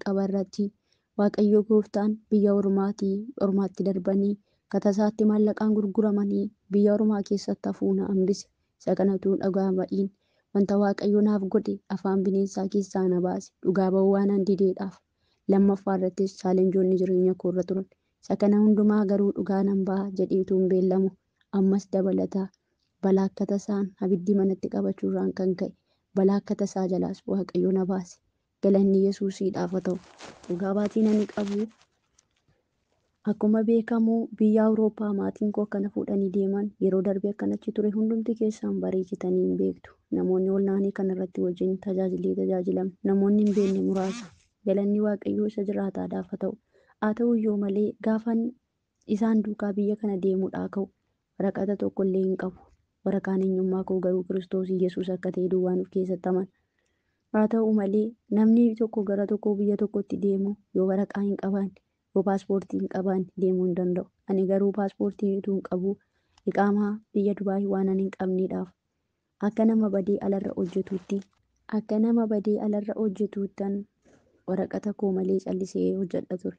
qaba irratti. Waaqayyo gooftaan biyya ormaatii ormaatti darbanii katasaatti maallaqaan gurguramanii biyya ormaa keessatti hafuu na hambise. Isa kanatu dhugaa ba'iin. Wanta Waaqayyo naaf godhe afaan bineensaa keessaa na baase. Dhugaa ba'uu waanan dideedhaaf. Lammaffaa irrattis chaalenjoonni jireenya koo irra turan. Isa kana hundumaa garuu dhugaa nan ba'a jedhee utuun beellamu ammas dabalata balaa akka tasaan abiddi manatti qabachuurraan kan ka'e balaa akka tasaa jalaas Waaqayyo na baase. Galanni Yesuusiidhaaf haa ta'u. Dhugaa baatiin ani qabu akkuma beekamu biyya Awurooppaa maatiin koo akkana fuudhanii deeman yeroo darbe akkan achi ture hundumti keessaan bareechitanii hin beektu. Namoonni olnaanii kan irratti wajjin tajaajillee tajaajilam namoonni hin beekne muraasa. Galanni Waaqayyoo isa jiraataadhaaf haa ta'u. Haa ta'u iyyuu malee gaafan isaan duukaa biyya kana deemuudhaa ka'u waraqata tokko illee hin qabu. Waraqaan eenyummaa koo garuu Kiristoos Yesuus akka ta'e duwwaan of keessatti amana. Haa ta'u malee, namni tokko gara tokkoo biyya tokkotti deemu yoo waraqaa hin qabaanne, yoo paaspoortii hin qabaanne deemuu hin danda'u. Ani garuu paaspoortii utuun qabuu, iqaamaa biyya Dubaay waanan hin qabneedhaaf, akka nama badee alarra hojjetuutti, akka nama badee alarra hojjetuuttan waraqata koo malee callisee hojjedha ture.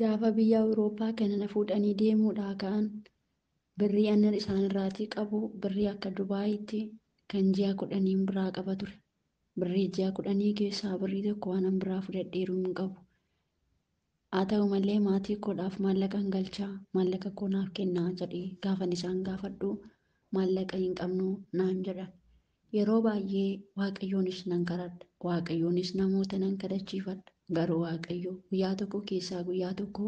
Gaafa biyya Awurooppaa kana na fuudhanii deemuudhaa ka'an birrii annan isaanirraatii qabu birrii akka Dubaayiitti kan ji'a kudhaniin biraa qaba ture. Birrii ji'a kudhanii keessaa birrii tokko waanan biraa fudhadheeru hin qabu. Haa ta'u malee maatii koodhaaf maallaqan galcha, maallaqa koo naaf kennaa jedhee gaafan isaan gaafadhu maallaqa hin qabnu naan jedhan. Yeroo baay'ee Waaqayyoonis nan kadhadha, Waaqayyoonis namoota nan kadhachiifadha, garuu Waaqayyo guyyaa tokko keessaa guyyaa tokko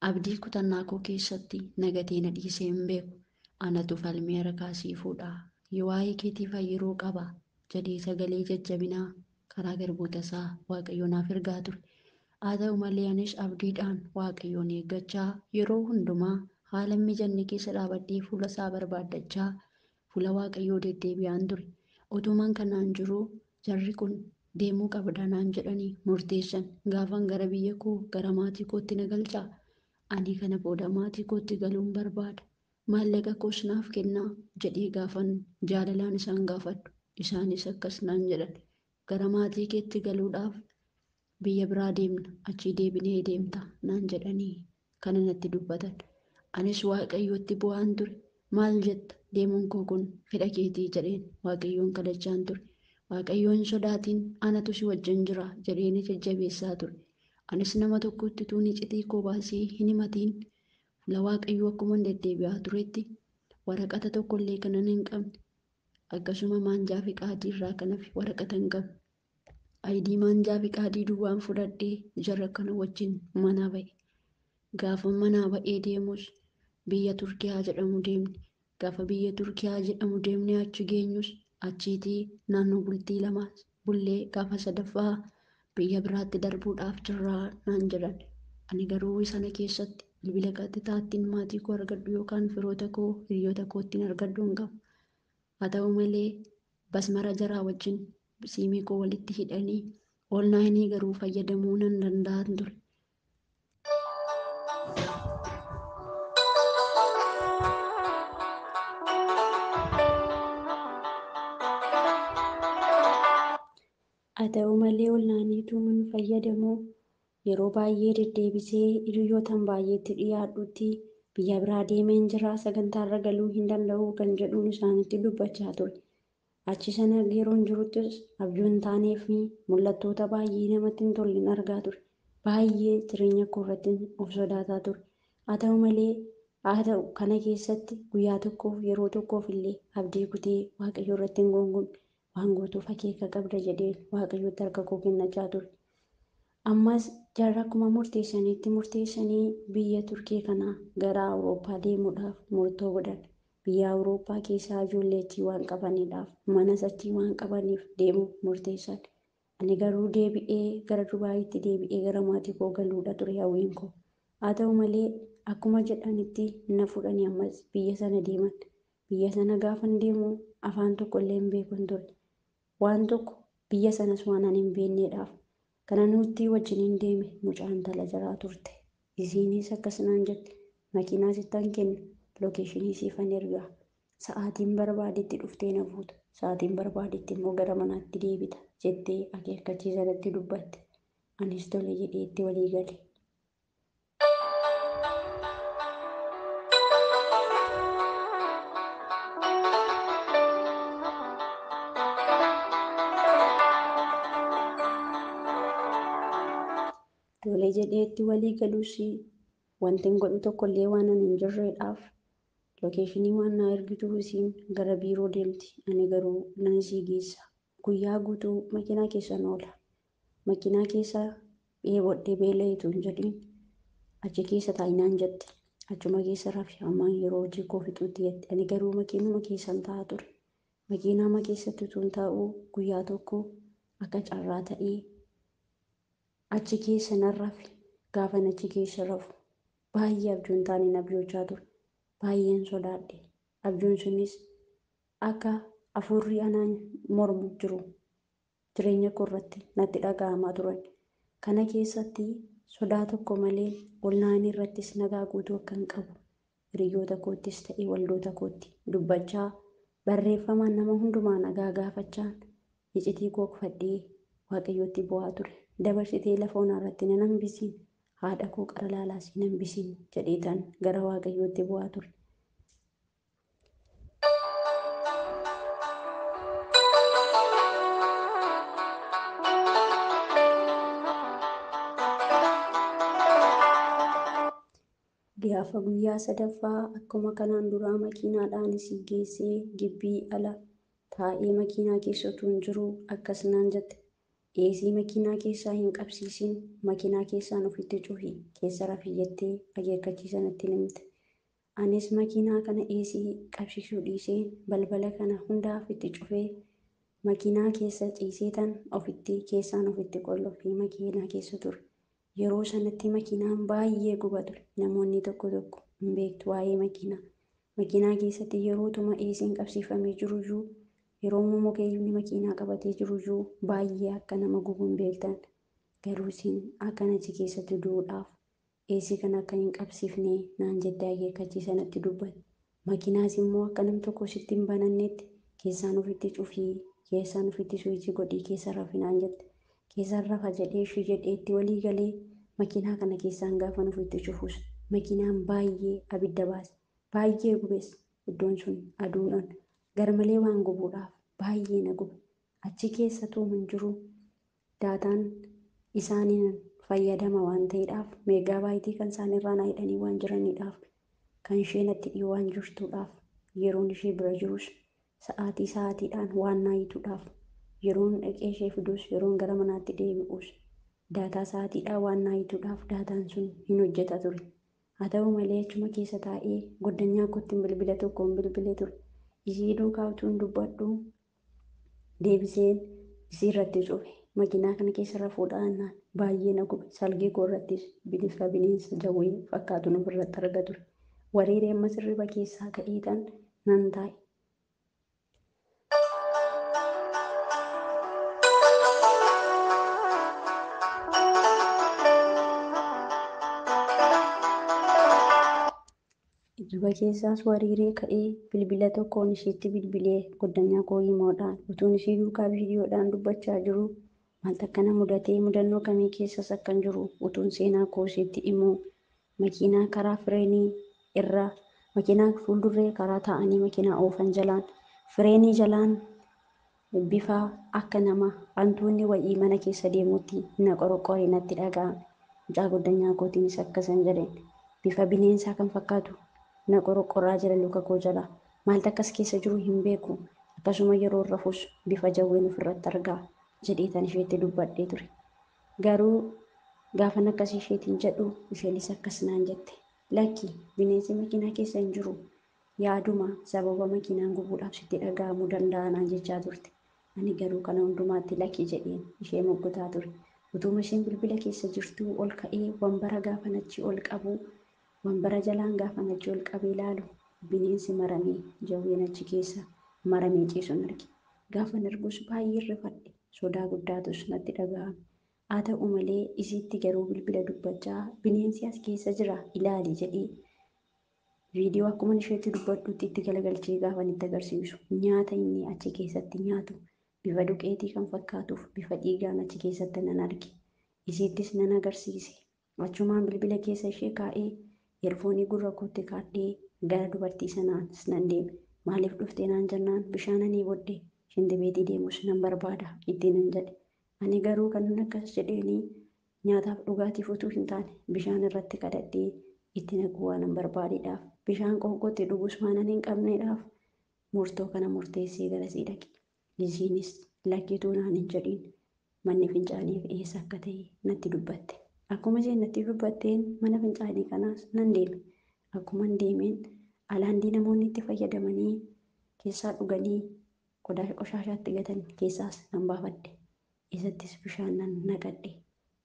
abdii kutannaa koo keessatti na gatee na dhiisee hin beeku. Anatu falmee harkaa sii fuudha. Yoo waa'ee keetii fayyiruu qaba jedhee sagalee jajjabinaa karaa garboota isaa Waaqayyo naaf ergaa ture. Haa ta'u malee anis abdiidhaan Waaqayyoon eeggachaa yeroo hundumaa haala hin mijanne keessa dhaabadhee fuula isaa barbaaddachaa Fuula Waaqayyoo deddeebi'aan ture. Utuman kanaan jiruu jarri kun deemuu qabda naan jedhanii murteessan. Gaafan gara biyya koo, gara maatii kootti na galchaa? Ani kana booda maatii kootti galuun barbaada. Maallaqa koos naaf kennaa? jedhee gaafan jaalalaan isaan gaafadhu. Isaanis akkas naan jedhan, Gara maatii keetti galuudhaaf Biyya biraa deemna, achii deebinee deemta naan jedhanii kana natti dubbatan. Anis Waaqayyotti boo'aan ture. Maal jetta? Deemuun koo kun fedha keetii jedheen Waaqayyoon kadhachaan ture. Waaqayyo hin sodaatin, anatu si wajjin jira jedhee na jajjabeessaa ture. Anis nama tokkotti utuun icitii koo baasee hin himatiin fuula Waaqayyoo akkuman deddeebi'aa turetti waraqata tokkollee kanan hin qabne akkasuma maanjaa fiqaadii irraa kan hafe waraqata hin qabne Ayidii maanjaa fiqaadii duwwaan fudhadhee jarra kana wajjin manaa ba'e. Gaafa manaa ba'ee deemus biyya Turkiyaa jedhamu deemne. Gaafa biyya Turkiyaa jedhamu deemnee achi geenyus achiitii naannoo bultii lama bullee gaafa sadaffaa biyya biraatti darbuudhaaf jirraa naan jedhan. Ani garuu sana keessatti bilbila qaxxitaattiin maatii koo argadhu yookaan firoota koo hiriyoota koottiin argadhu hin qabu. Haa ta'u malee basmara jaraa wajjin siimii koo walitti hidhanii oonlaayinii garuu fayyadamuu nan danda'an ture. Haa ta'u malee oonlaayiniituun fayyadamuu yeroo baay'ee deddeebisee hiriyootaan baay'eetti dhiyaadhutti biyya biraa deemeen jira sagantaarra galuu hin danda'u kan jedhuun isaanitti dubbachaa ture. Achi sana yeroon jiruttis abjuu hin taanee fi mul'attoota baay'ee namatti hin tollen argaa ture. Baay'ee jireenya koo irratti of sodaataa ture. Haa ta'u malee, haa ta'u kana keessatti guyyaa tokkoof yeroo tokkoof illee abdii kutee Waaqayyo irratti hin guungumne. Waan gootuuf akeeka qabda jedheen Waaqayyotti harka koo kennachaa ture. Ammas jarri akkuma murteessanitti murteessanii biyya Turkii kana gara Awurooppaa deemuudhaaf murtoo godhan. Biyya Awurooppaa keessaa ijoollee achii waan qabaniidhaaf, manas achii waan qabaniif deemuuf murteessan. Ani garuu deebi'ee gara Dubaayitti deebi'ee gara maatii koo galuudha ture hawwiin koo. Haa ta'u malee akkuma jedhanitti na fuudhanii ammas biyya sana deeman. Biyya sana gaafan deemu afaan tokkollee hin beekun ture. Waan tokko, biyya sanas waan ani hin beenneedhaaf, kana nuuttii wajjiniin deeme, mucaa intala jaraa turte. Isiiniis akkas naan jette, Makiinaa sittan kenna, lokeeshinii siifan ergaa. Sa'aatiin barbaadetti dhuftee na fuuta, sa'aatiin barbaadetti immoo gara manaatti deebita, jettee akeekkachiisa natti dubbatte. Anis tole jedhee itti walii gale. Tole jedhee itti walii galuus wanti hin godhu tokkollee waan ani hin jirreedhaaf lokeeshinii waan naa ergituu isiin gara biiroo deemti ani garuu nan isii geessa Guyyaa guutuu makiinaa keessan oola. Makiinaa keessa dheebodhe beela'e utuu hin jedhiin achi keessa taa'i naan jette. Achuma keessa rafi hammaan yeroo hojii koo fixuutti jette. Ani garuu makiinuma keessan taa'a ture. Makiinaama keessatti utuun taa'uu guyyaa tokko akka carraa ta'ee achi keessa nan rafe. Gaafan achi keessa rafu baay'ee abjuun taaneen abjoochaa ture. Baay'een sodaadhe. Abjuun sunis Akka afuurri anaan mormu jiru jireenya koo irratti natti dhaga'amaa turan. Kana keessatti sodaa tokko malee ol na'anii irrattis nagaa guutuu akkan qabu hiriyyoota koottis ta'e waldoota kootti dubbachaa, barreeffamaan nama hundumaa nagaa gaafachaan icitii koo kufadhee Waaqayyootti boo'aa ture. Dabarsitee lafa onaa irratti nan hambisiin, haadha koo qara laalaas hin hambisiin jedheetan gara Waaqayyootti boo'aa ture. Gaafa guyyaa sadaffaa akkuma kanaan duraa makiinaadhaan isii geessee gibbii ala taa'ee makiinaa keessa utuu hin jiru akkas naan jette. Eesii makiinaa keessaa hin qabsiisin makiinaa keessaan ofitti cufi keessa rafi jettee akeekkachiisa natti himte. Anis makiinaa kana AC qabsiisuu dhiisee balbala kana hunda ofitti cufee makiinaa keessa ciiseetan ofitti keessaan ofitti qollofee makiinaa keessa ture. Yeroo sanatti makiinaan baay'ee guba ture. Namoonni tokko tokko hin beektu waa'ee makiinaa. Makiinaa keessatti yerootuma AC'n qabsiifamee jiruyyuu yerooma mukeeyyiin makiinaa qabatee jiruyyuu baay'ee akka nama gubu hin beektan. Garuu isin akkan achi keessatti du'uudhaaf Eesii kana akka hin qabsiifne naan jettee akeekkachiisa natti dubbatti. Makiinaas immoo akka nam tokko sitti hin banannetti keessaan ufitti cufii, keessaan ufitti suwiichii godhii keessa rafi naan jette. Keessaan rafa jedhee ishii jedhee itti walii galee makiinaa kana keessaan gaafan ufitti cufus makiinaan baayyee abidda baase. Baayyee gubes. Iddoon sun aduudhan garmalee waan gubuudhaaf baayyee na gube. Achi keessa tuuman jiru. Daataan isaaniin fayyadama waan ta'eedhaaf meegaa baayitii kan isaan irraa na hidhanii waan jiraniidhaaf kan ishee natti dhiyoo waan jirtuudhaaf yeroon ishee bira jirus sa'aatii sa'aatiidhaan waan na hiituudhaaf yeroon dhaqee ishee fiduus yeroon gara manaatti deebi'uus daataa sa'aatiidhaa waan na hiituudhaaf daataan sun hin hojjeta ture. Haa ta'u malee achuma keessa taa'ee goddanyaa kootti bilbila tokkoon bilbilee ture. Isii duukaa utuun dubbadhu deebiseen isii irratti cufe makiinaa kana keessa rafuudha annaan baay'ee na gube salgee koo irrattis bineensa bineensa jawwee fakkaatu nuuf irratti arga ture wareeree amma sirriba keessaa ka'eetan nan taa'e. Hirriba keessaas wariiree ka'ee bilbila tokkoon ishiitti bilbilee goddanyaa koo himoodhaan utuun ishii duukaa viidiyoodhaan dubbachaa jiruu maaltu akka na mudatee mudannoo kamii keessas akkan jiru utuun seenaa koo ishiitti himuu makiinaa karaa fireenii irra makiinaa fuuldurree karaa taa'anii makiinaa oofan jalaan fireenii jalaan Bifa akka nama antuunni wayii mana keessa deemuutti na qoroqqore natti dhaga'ame. Mucaa goddanyaa kootiinis akkasan jedheen. Bifa bineensaa kan fakkaatu na qoroqqoraa jira luka koo jala. Maaltu akkas keessa jiru hin beeku. Akkasuma yeroon rafus bifa jawween ofirratti arga, jedheetan isheetti dubbadhee ture. Garuu gaafan akkas isheetiin jedhu isheenis akkas naan jette. Lakki, bineensi makiinaa keessa hin jiru. Yaaduma sababa makiinaan gubuudhaaf sitti dhaga'amu danda'a naan jechaa turte. Ani garuu kana hundumaatti lakki jedheen ishee moggotaa ture. Utuuma isheen bilbila keessa jirtuu ol ka'ee wanbara gaafan achi ol qabu, wanbara jalaan gaafan achi ol qabee laalu bineensi maramee jawween achi keessa maramee ciisun arge. Gaafan argus baay'een rifadhe, sodaa guddaatus natti dhaga'ame. Haa ta'u malee isiitti garuu bilbila dubbachaa bineensi as keessa jira ilaali jedhee Viidiyoo akkuma isheetti dubbadhutti itti galagalchee gaafan itti agarsiisu nyaata inni achi keessatti nyaatu bifa duqeetii kan fakkaatuuf bifa dhiigaan achi keessatti nan arge. Isiittis nan agarsiise. Achumaan bilbila keessa ishee kaa'ee eerfoonii gurra kootti kaadhee gara dubartii sanaas nan deeme. Maaliif dhufte naan jennaan bishaan ani bodde shintibeetii deemus nan barbaada ittiin nan jedhe. Ani garuu kanan akkas jedheenii Nyaataaf dhugaatiif utuu hin taane, bishaan irratti kadhadhee itti naquu waanan barbaadedhaaf, bishaan qoonqootti dhugus waanan hin qabnedhaaf, murtoo kana murteessee garasii dhaqe. Liziinis, Lakki utuu naan hin jedhin, manni fincaaniif eessa akka ta'e natti dubbatte. Akkuma isheen natti dubbatteen mana fincaanii kanaas nan deeme. Akkuman deemeen, alaandii namoonni itti fayyadamanii keessaa dhuganii qodaa qoshaashaatti gatan keessaas nan baafadhe. Isattis bishaan nan naqadhe.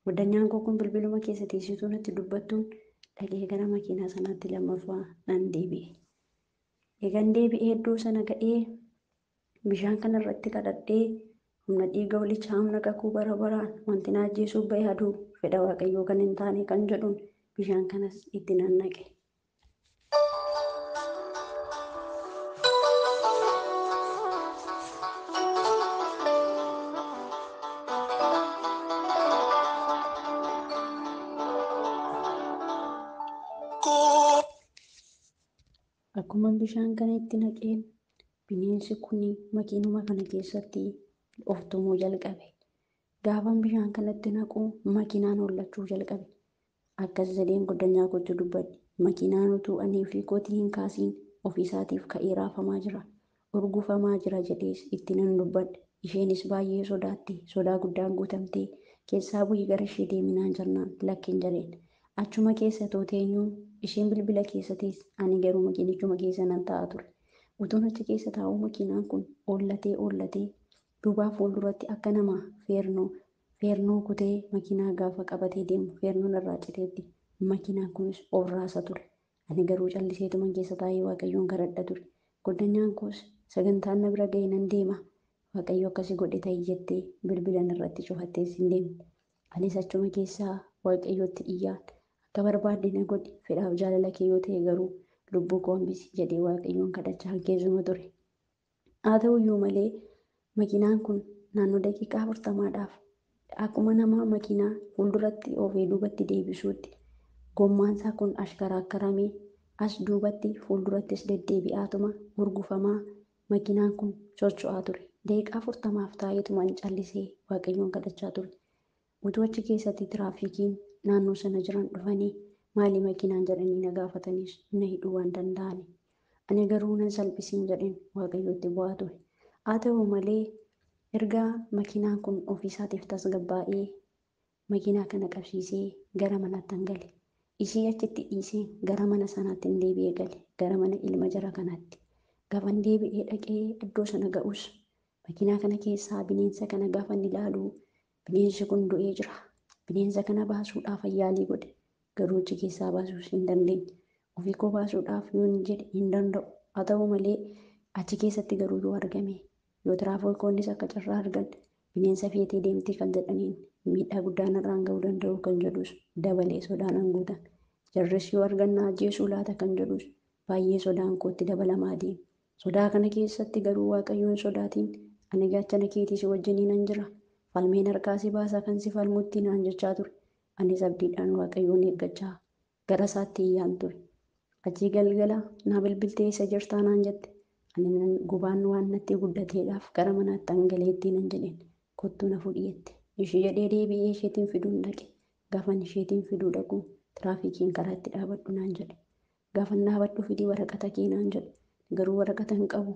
Godanyaan koo kun bilbiluma keessa teessituu natti dubbattuun dhaqee gara makiinaa sanaatti lammaffaa nan deebi'e. Eegan deebi'ee iddoo sana ga'ee bishaan kana irratti kadhadhee humna dhiiga holichaa humna kakuu bara baraan wanti na ajjeesuuf ba'e aduu fedha waaqayyoo kan hin taane kan jedhuun bishaan kanas itti nan naqe. Akkuma bishaan kana itti naqeen bineensi kun makiinuma kana keessatti of tumuu jalqabe. Gaafan bishaan kanatti naqu makiinaan hollachuu jalqabe. Akkas jedheen goddanyaa kootti dubbadhe. Makiinaan utuu ani ofii kootii hin kaasiin ofiisaatiif ka'ee raafamaa jira. Urgufamaa jira jedhees itti nan dubbadhe. Isheenis baay'ee sodaatte. Sodaa guddaan guutamtee, Keessaa bu'ii gara ishee deemi naan jennaan, lakkin jedheen. Achuma keessa utuu teenyuu, isheen bilbila keessa teesse, ani garuu makiinichuma keessa nan taa'a ture. Utuun achi keessa taa'uu makiinaan kun oollatee oollatee duubaa fuulduratti akka nama feernoo Feernoo kutee makiinaa gaafa qabatee deemu feernoon irraa citeetti. Makiinaan kunis of raasa ture. Ani garuu calliseetuman keessa taa'ee Waaqayyoon kadhadha ture. Goddanyaan koos sagantaan na bira ga'e nan deema, Waaqayyo akka si godhe ta'i jettee bilbila narratti cufattees hin deemne. Anis achuma keessaa Waaqayyotti iyyaan, Akka barbaadde na godhi, fedhaaf jaalala kee yoo ta'e garuu lubbuu koo hambisi jedhee Waaqayyoon kadhachaan keessuma ture. Haa ta'uyyuu malee makiinaan kun naannoo daqiiqaa 40dhaaf akkuma nama makiinaa fuulduratti oofee duubatti deebisuutti gommaansaa kun ashkaraakkaramee as duubatti fuuldurattis deddeebi'aatuma hurgufamaa makiinaan kun socho'aa ture. Daqiiqaa 40f taa'eetuman callisee Waaqayyoon kadhachaa ture. Utuu achi keessatti tiraafiikiin naannoo sana jiran dhufanii maali makiinaan jedhanii na gaafatanis na hidhuu waan danda'ani. Ani garuu nan salphisiin jedheen Waaqayyootti bu'aa ture. Haa ta'u malee erga makiinaan kun ofiisaatiif tasgabbaa'ee makiinaa kana qabsiisee gara manaattan gale. Ishii achitti dhiiseen gara mana sanaattin deebi'ee gale gara mana ilma jara kanaatti. Gaafan deebi'ee dhaqee iddoo sana ga'us makiinaa kana keessaa bineensa kana gaafan ilaalu Bineensi kun du'ee jira. Bineensa kana baasuudhaaf ayyaalii godhe. Garuu achi keessaa baasuus hin dandeenye. Ofii koo baasuudhaaf yoon jedhe hin danda'u. Haa ta'u malee achi keessatti garuu yoo argame yoo tiraafoolkoonnis akka carraa argan bineensa feetee deemtii kan jedhaniin miidhaa guddaa narraan ga'uu danda'u kan jedhus dabalee sodaanan guutame. Jarris yoo argan na ajjeesuu laata kan jedhus baay'ee sodaan kootti dabalamaa deeme. Sodaa kana keessatti garuu Waaqayyo hin sodaatin, ani gaachana keetii si wajjiniinan jira, falmeen harkaa si baasa kan si falmutti naan jechaa ture. Anis abdiidhaan Waaqayyoon eeggachaa gara isaatti iyyaan ture. Achii galgala naa bilbiltee eessa jirtaa naan jette. Ani nan gubaan waan natti guddateedhaaf gara manaattan galeettii nan jedheen. Kottuu na fudhi jette. Ishii jedhee deebi'ee isheetiin fiduun dhaqe. Gaafan isheetiin fiduu dhaqu tiraafikiin karaa itti dhaabadhu naan jedhe. Gaafan dhaabadhu fidi waraqata kee naan jedhe. Garuu waraqata hin qabu.